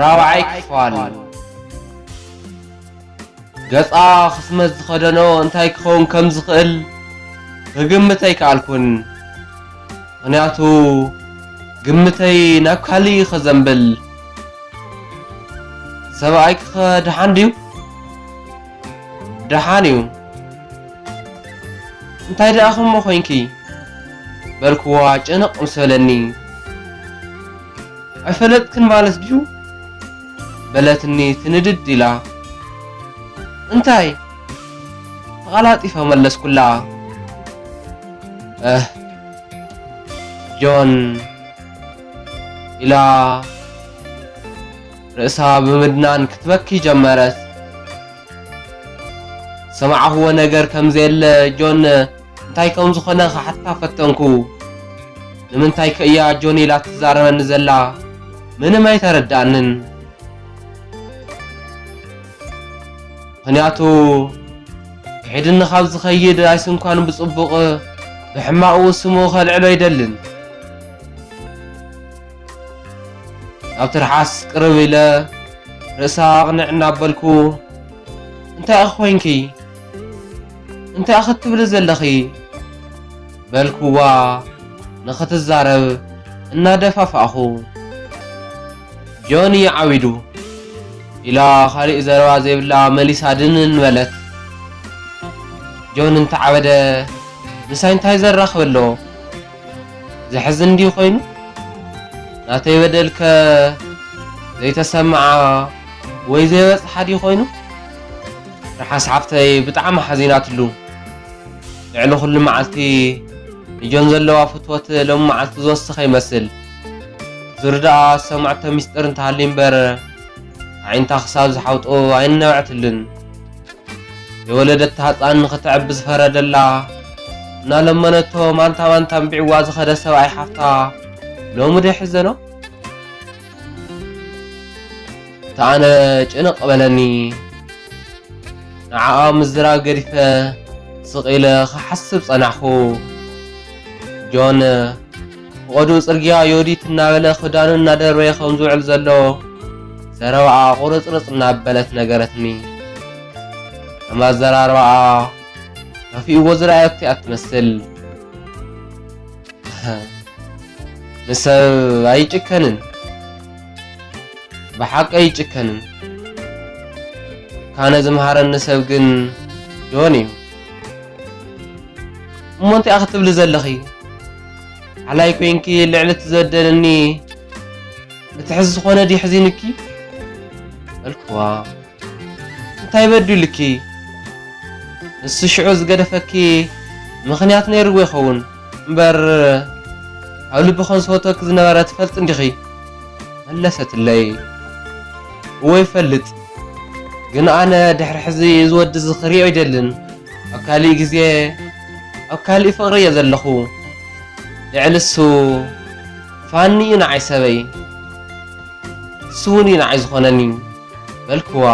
ራብዓይ ክፋል ገጻ ክስመት ዝኸደኖ እንታይ ክኸውን ከም ዝኽእል ክግምት ኣይከኣልኩን። ምኽንያቱ ግምተይ ናብ ካልእ እዩ ከዘንብል። ሰብኣይኪኸ ደሓን ድዩ? ደሓን እዩ። እንታይ ደኣ ከምኡ ኮይንኪ? በልክዋ ጭንቕ ምስ በለኒ። ኣይፈለጥክን ማለት ድዩ? በለትኒ ትንድድ ኢላ። እንታይ? ተቐላጢፈ መለስኩላ። እህ ጆን ኢላ ርእሳ ብምድናን ክትበኪ ጀመረት። ዝሰማዕኹዎ ነገር ከምዘየለ ጆን እንታይ ከም ዝኾነ ክሓትታ ፈተንኩ። ንምንታይከ እያ ጆኒ ኢላ ትዛረበኒ ዘላ? ምንም ኣይተረድኣንን። ምኽንያቱ ክሒድኒ ካብ ዝኸይድ ኣይስንኳን ብጽቡቕ ብሕማቑ ስሙ ከልዕሎ ኣይደልን። ናብ ትርሓስ ቅርብ ኢለ ርእሳ ኣቕንዕ እናበልኩ እንታይ ኢኺ ኮይንኪ? እንታይ ክትብሊ ዘለኺ? በልክዋ ንኽትዛረብ እናደፋፋእኹ። ጆኒ ዓቢዱ ኢላ ካሊእ ዘረባ ዘይብላ መሊሳ ድንን በለት። ጆን እንተዓበደ ምሳይ እንታይ ዘራኽብ ኣሎ? ዘሕዝን እንዲዩ ኮይኑ ናተይ በደልከ ዘይተሰምዓ ወይ ዘይበጽሓ ድዩ ኮይኑ? ርሓስ ሓፍተይ ብጣዕሚ ሓዚናትሉ ልዕሊ ኩሉ መዓልቲ ንጆን ዘለዋ ፍትወት ሎሚ መዓልቲ ዝወሰኸ ይመስል ዙር ደኣ ዝሰማዕቶ ሚስጥር እንተሃልዩ እምበር ኣዒንታ ክሳብ ዝሓውጡ ኣይነብዐትሉን ዘይወለደታ ህፃን ንኽተዕቢ ዝፈረደላ እናለመነቶ ማንታ ማንታ ኣንቢዕዋ ዝኸደ ሰብኣይ ሓፍታ ሎሚ ዶ ይሕዘኖ? ኣነ ጭንቕ በለኒ ንዓኣ ምዝራብ ገዲፈ ስቕ ኢለ ክሓስብ ጸናሕኩ። ጆን ብቐዱም ጽርግያ ዮዲት እናበለ ክዳኑ እናደርበየ ከም ዝውዕል ዘሎ ዘረባኣ ቁርጽርጽ እናበለት ነገረትኒ። ከም ኣዘራርባኣ ከፊእዎ ዝረኣየቶ እያ ትመስል። ንሰብ ኣይጭከንን ብሓቂ ኣይጭከንን ካነ ዝምሃረኒ ሰብ ግን ጆን እዩ እሞ እንታይ ክትብሊ ዘለኺ ሓላይ ኮንኪ ልዕሊ ትዘደንኒ እቲ ሕዚ ዝኾነ ድዩ ሕዚንኪ በልክዋ እንታይ በዲሉኪ? ንሱ ሽዑ ዝገደፈኪ ምኽንያት ነይርዎ ይኸውን እምበር ካብ ልቢ ከም ዝፈትወኪ ዝነበረ ትፈልጢ እንዲኺ? መለሰትለይ። እወ ይፈልጥ፣ ግን ኣነ ድሕሪ ሕዚ እዚ ወዲ እዚ ክሪኦ ኣይደልን፣ ኣብ ካሊእ ግዜ ኣብ ካሊእ ፍቕሪ እየ ዘለኹ፣ ልዕሊ እሱ ፋኒ እዩ ንዓይ ሰበይ፣ ንሱ እውን እዩ ንዓይ ዝኾነኒ። በልክዋ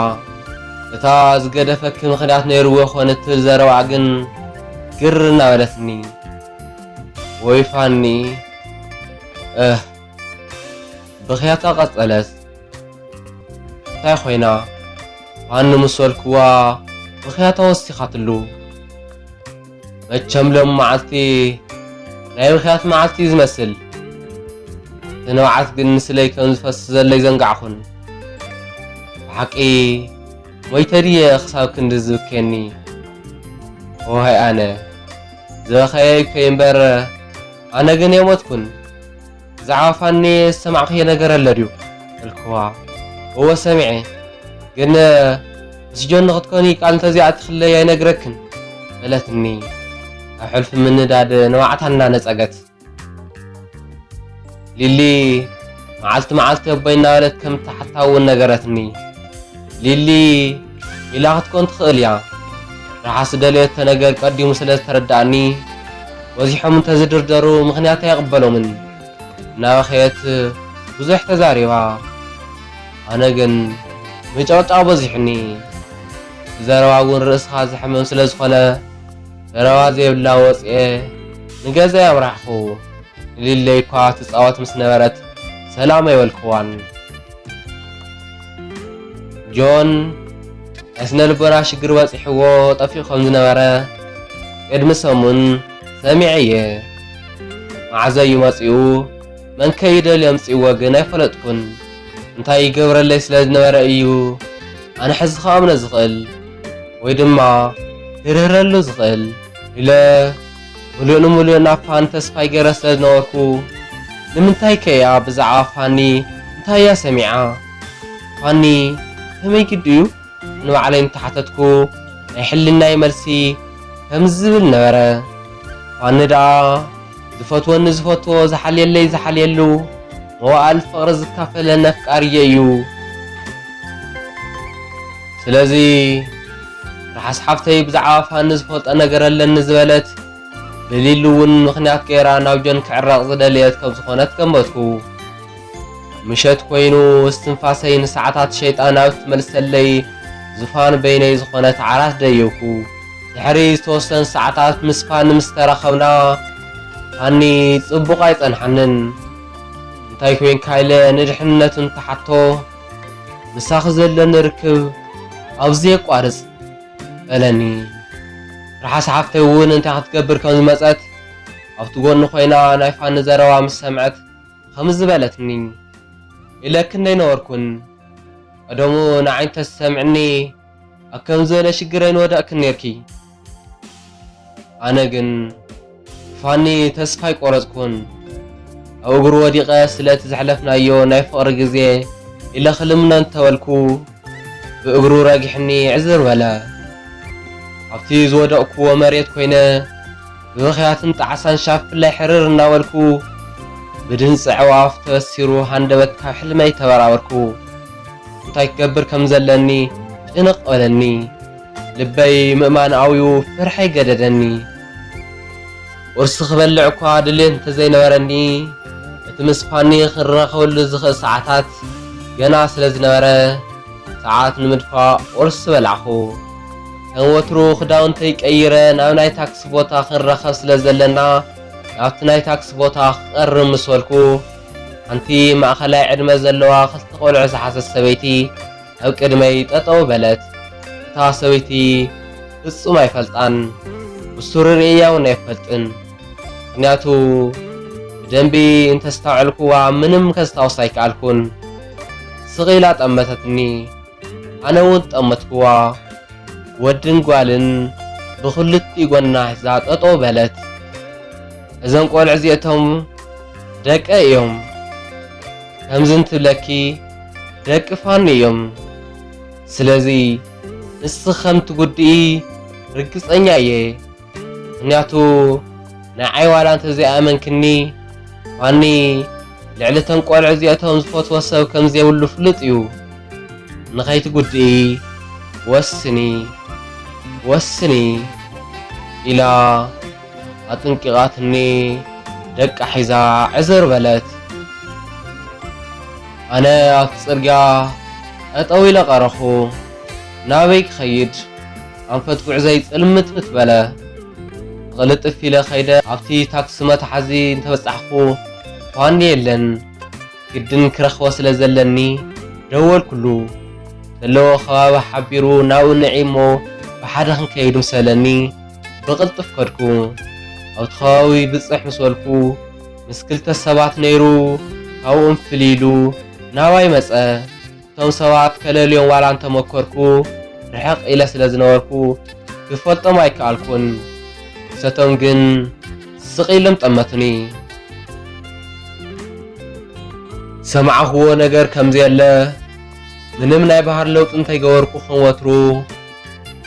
እታ ዝገደፈኪ ምኽንያት ነይርዎ ይኾን እትብል ዘረባኣ ግን ግር እናበለትኒ ወይ ፋኒ እህ ብኽያታ ቀጸለት እንታይ ኮይና ፋኒ ምስ በልክዋ ብኽያታ ወሲኻትሉ መቸም ሎም መዓልቲ ናይ ብኽያት መዓልቲ እዩ ዝመስል እቲ ንብዓት ግን ንስለይ ከም ዝፈስ ዘሎይ ዘንጋዕኹን ብሓቂ ሞይተ ድየ ክሳብ ክንዲ ዝብከየኒ ኦሃይ ኣነ ዝበኸየይ እኮ እምበር ኣነ ግን የሞትኩን ብዛዕባ ፋኒየ ዝሰማዕክዮ ነገር ኣሎ ድዩ በልክዋ እወ ሰሚዐ ግን ምስ ጆን ንክትኮኒ ቃል እንተዘይኣቲክለይ ኣይነግረክን በለትኒ ኣብ ሕልፊ ምንዳድ ንባዕታ እናነፀገት ሊሊ መዓልቲ መዓልቲ ኣቦይ እናበለት ከም እትሓታ እውን ነገረትኒ ሊሊ ኢላ ክትኮን ትኽእል እያ። ርሓ ዝደለየቶ ነገር ቀዲሙ ስለ ዝተረድኣኒ፣ በዚሖም እንተ ዝድርደሩ ምኽንያት ኣይቕበሎምን። እናበኸየት ብዙሕ ተዛሪባ። ኣነ ግን ምጭቕጫቕ በዚሑኒ። እቲ ዘረባ እውን ርእስኻ ዘሕምም ስለ ዝኾነ፣ ዘረባ ዘይብላ ወጺኤ ንገዛይ ኣምራሕኩ። ንሊለይ'ኳ ትጻወት ምስ ነበረት ሰላም ኣይበልኩዋን። ጆን ናይ ስነ ልቦና ሽግር በጺሕዎ ጠፊኡ ከም ዝነበረ ቅድሚ ሰሙን ሰሚዐ እየ። መዓዘ እዩ መጺኡ መንከ እዩ ደልዩ ኣምጺእዎ ግን ኣይፈለጥኩን። እንታይ ይገብረለይ ስለ ዝነበረ እዩ ኣነ ሕዚ ክኣምኖ ዝኽእል ወይ ድማ ክርህረሉ ዝኽእል ኢለ ምሉእ ንምሉእ ናብ ፋን ተስፋይ ገረ ስለ ዝነበርኩ ንምንታይ ከ እያ ብዛዕባ ፋኒ እንታይ እያ ሰሚዓ ፋኒ ከመይ ግዲ እዩ ንባዕለይ እንተሓተትኩ ናይ ሕልናይ መልሲ ከምዚ ዝብል ነበረ ፋኒ ደኣ ዝፈትወኒ ዝፈትዎ ዝሓልየለይ ዝሓልየሉ መዋእል ፍቕሪ ዝካፈለኒ ኣፍቃርየይ እዩ ስለዚ ርሓስ ሓፍተይ ብዛዕባ ፋኒ ዝፈልጦ ነገር ኣለኒ ዝበለት ብሊሊ እውን ምኽንያት ገይራ ናብ ጆን ክዕረቕ ዝደለየት ከም ዝኾነት ገመትኩ። ምሸት ኮይኑ እስትንፋሰይ ንሰዓታት ሸይጣን ኣብ እትመልሰለይ ዙፋን በይነይ ዝኾነት ዓራት ደየብኩ። ድሕሪ ዝተወሰኑ ሰዓታት ምስ ፋኒ ምስ ተራኸብና ፋኒ ጽቡቕ ኣይጸንሓንን እንታይ ኮይንካ ኢለ ንድሕንነቱ እንትሓቶ ምሳኺ ዘለኒ ርክብ ኣብ ዘየቋርጽ በለኒ። ርሓስ ሓፍተይ እውን እንታይ ክትገብር ከም ዝመጸት ኣብቲ ጎኒ ኮይና ናይ ፋኒ ዘረባ ምስ ሰምዐት ኸምዚ በለትኒ፣ ኢለኪ እንደይነበርኩን ቀደሙ ንዓይ እንተትሰምዕኒ፣ ኣብ ከምዚ ዝበለ ሽግር ኣይንወዳእክን ኔርኪ ኣነ ግን ፋኒ ተስፋ ኣይቆረጽኩን ኣብ እግሩ ወዲቀ ስለ እቲ ዘሕለፍናዮ ናይ ፍቅሪ ግዜ ኢለ ክልምኖ እንተ በልኩ ብእግሩ ረጊሕኒ ዕዝር በለ ኣብቲ ዝወደቅኩዎ መሬት ኮይነ ብብኽያትን ጣዕሳን ሻፍለይ ሕርር እናበልኩ፣ ብድምጺ ኣዕዋፍ ተበሲሩ ሃንደበት ካብ ሕልመይ ተበራበርኩ። እንታይ ክገብር ከም ዘለኒ ጭንቕ በለኒ። ልበይ ምእማን ኣውዩ ፍርሐይ ገደደኒ። ቁርሲ ክበልዕ እኳ ድልየት እንተዘይነበረኒ፣ እቲ ምስ ፋኒ ክንራኸበሉ ዝኽእል ሰዓታት ገና ስለ ዝነበረ፣ ሰዓት ንምድፋእ ቁርሲ በላዕኩ። ከም ወትሩ ክዳውንተይ ቀይረ ናብ ናይ ታክሲ ቦታ ክንራኸብ ስለ ዘለና ናብቲ ናይ ታክሲ ቦታ ክቐርብ ምስ በልኩ፣ ሓንቲ ማእኸላይ ዕድመ ዘለዋ ክልተ ቆልዑ ዝሓዘት ሰበይቲ ኣብ ቅድመይ ጠጠው በለት። እታ ሰበይቲ ፍጹም ኣይፈልጣን፣ ብሱሩ ርእየያ እውን ኣይፈልጥን። ምክንያቱ ብደንቢ እንተስታውዐልኩዋ ምንም ከስታውስ ኣይከኣልኩን። ስቕ ኢላ ጠመተትኒ። ኣነ ውን ጠመትክዋ ወድን ጓልን ብክልቲኡ ጎና ሒዛ ጠጠው በለት እዞም ቆልዑ እዚኦቶም ደቀይ እዮም ከምዚ እንትብለኪ ደቂ ፋኒ እዮም ስለዚ ንስኪ ከምትጉድኢ ርግጸኛ እየ። ምክንያቱ ንዓይ ዋላ እንተዘይኣመንክኒ ፋኒ ልዕሊ እቶም ቆልዑ እዚኦቶም ዝፈትዎ ሰብ ከምዘይብሉ ፍሉጥ እዩ ንከይትጉድኢ ወስኒ ወስኒ ኢላ ኣጥንቂቃትኒ ደቃ ሒዛ ዕዝር በለት ኣነ ኣብቲ ጽርግያ ጠጠው ኢለ ቀረኹ ናበይ ክኸይድ ኣንፈት ጉዕዞይ ጽልምትምት በለ። ብቕልጥፍ ኢለ ከይደ ኣብቲ ታክሲ መትሓዚ እንተበጻሕኩ፣ ፋኒ የለን። ግድን ክረኽቦ ስለ ዘለኒ ደወልኩሉ። ዘለዎ ከባቢ ሓቢሩ ናብኡ ንዒ'ሞ ብሓደ ክንከይድ ምስ በለኒ፣ ብቕልጥፍ ከድኩ። ኣብቲ ከባቢ ብጽሕ ምስ በልኩ፣ ምስ ክልተ ሰባት ነይሩ ካብኡም ፍልይ ኢሉ ናባይ መጸ። እቶም ሰባት ከለልዮም ዋላ እንተ መኰርኩ፣ ርሕቕ ኢለ ስለ ዝነበርኩ ክፈልጦም ኣይከኣልኩን። ንሰቶም ግን ስቕ ኢሎም ጠመቱኒ። ዝሰማዕክዎ ነገር ከም ዘየለ፣ ምንም ናይ ባህሪ ለውጢ እንተይገበርኩ ከም ወትሩ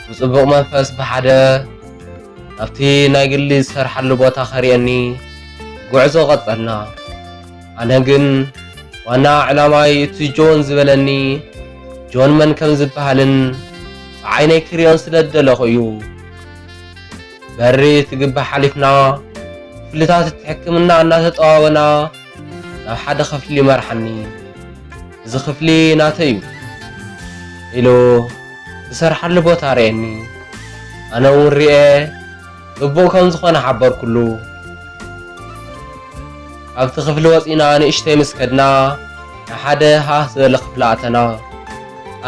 ብጽቡቕ መንፈስ ብሓደ ናብቲ ናይ ግሊ ዝሰርሓሉ ቦታ ከርእየኒ ጕዕዞ ቀጸልና። ኣነ ግን ዋና ዕላማይ እቲ ጆን ዝበለኒ ጆን መን ከም ዝበሃልን ብዓይነይ ክሪኦን ስለ ዝደለኹ እዩ። በሪ እቲ ግቢ ሓሊፍና ክፍልታት እቲ ሕክምና እናተጠዋወና ናብ ሓደ ክፍሊ መርሓኒ። እዚ ክፍሊ ናተይ እዩ ኢሉ ዝሰርሓሉ ቦታ ርኤኒ። ኣነ እውን ርኤ ጽቡቕ ከም ዝኾነ ሓበርኩሉ። ካብቲ ክፍሊ ወጺእና ንእሽተይ ምስ ከድና ናብ ሓደ ሃህ ዝበለ ክፍሊ ኣተና።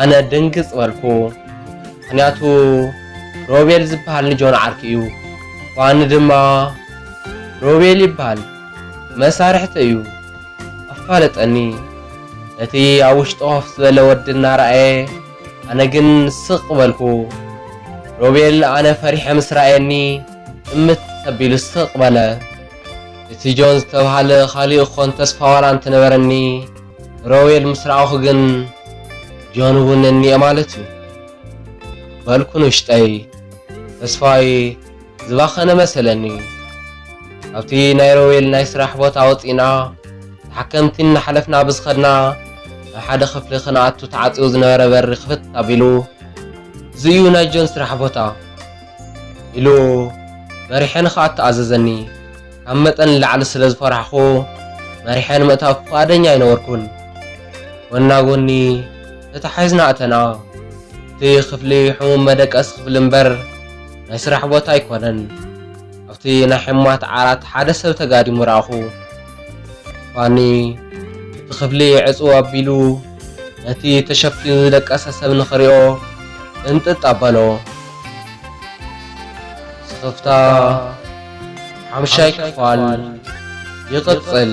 ኣነ ድንግጽ በልኩ። ምኽንያቱ ሮቤል ዝበሃል ንጆን ዓርኪ እዩ። ፋኒ ድማ ሮቤል ይበሃል መሳርሕተይ እዩ። ኣፋለጠኒ። ነቲ ኣብ ውሽጡ ኮፍ ዝበለ ወዲ እናረኣየ ኣነ ግን ስቅ በልኩ ሮቤል ኣነ ፈሪሐ ምስ ረኣየኒ እምት ኣቢሉ ስቅ በለ እቲ ጆን ዝተብሃለ ካሊእ ክኮን ተስፋ ዋላ እንተነበረኒ ንሮቤል ምስ ረኣኩ ግን ጆን እውን እኒኤ ማለት እዩ በልኩ ንውሽጠይ ተስፋይ ዝባኸነ መሰለኒ። ካብቲ ናይ ሮዌል ናይ ስራሕ ቦታ ወጺእና ተሓከምቲ እናሓለፍና ብዝኸድና ናብ ሓደ ክፍሊ ክንኣቱ ተዓጽዩ ዝነበረ በሪ ክፍት ኣቢሉ እዚ እዩ ናይ ጆን ስራሕ ቦታ ኢሉ መሪሐ ንክኣቱ ኣዘዘኒ። ካብ መጠን ንላዕሊ ስለ ዝፈራሕኩ መሪሐ ንምእታው ፍቓደኛ ኣይነበርኩን። ጎና ጎኒ ተታሒዝና ኣተና። እቲ ክፍሊ ሕሙም መደቀሲ ክፍሊ እምበር፣ ናይ ስራሕ ቦታ ኣይኮነን። ኣብቲ ናይ ሕሙማት ዓራት ሓደ ሰብ ተጋዲሙ ረኣኹ። ፋኒ እቲ ክፍሊ ዕጽው ኣቢሉ ነቲ ተሸፊኑ ዝደቀሰ ሰብ ንኽሪኦ እንጥጥ ኣበሎ። ስኽፍታ ሓምሻይ ክፋል ይቕጽል።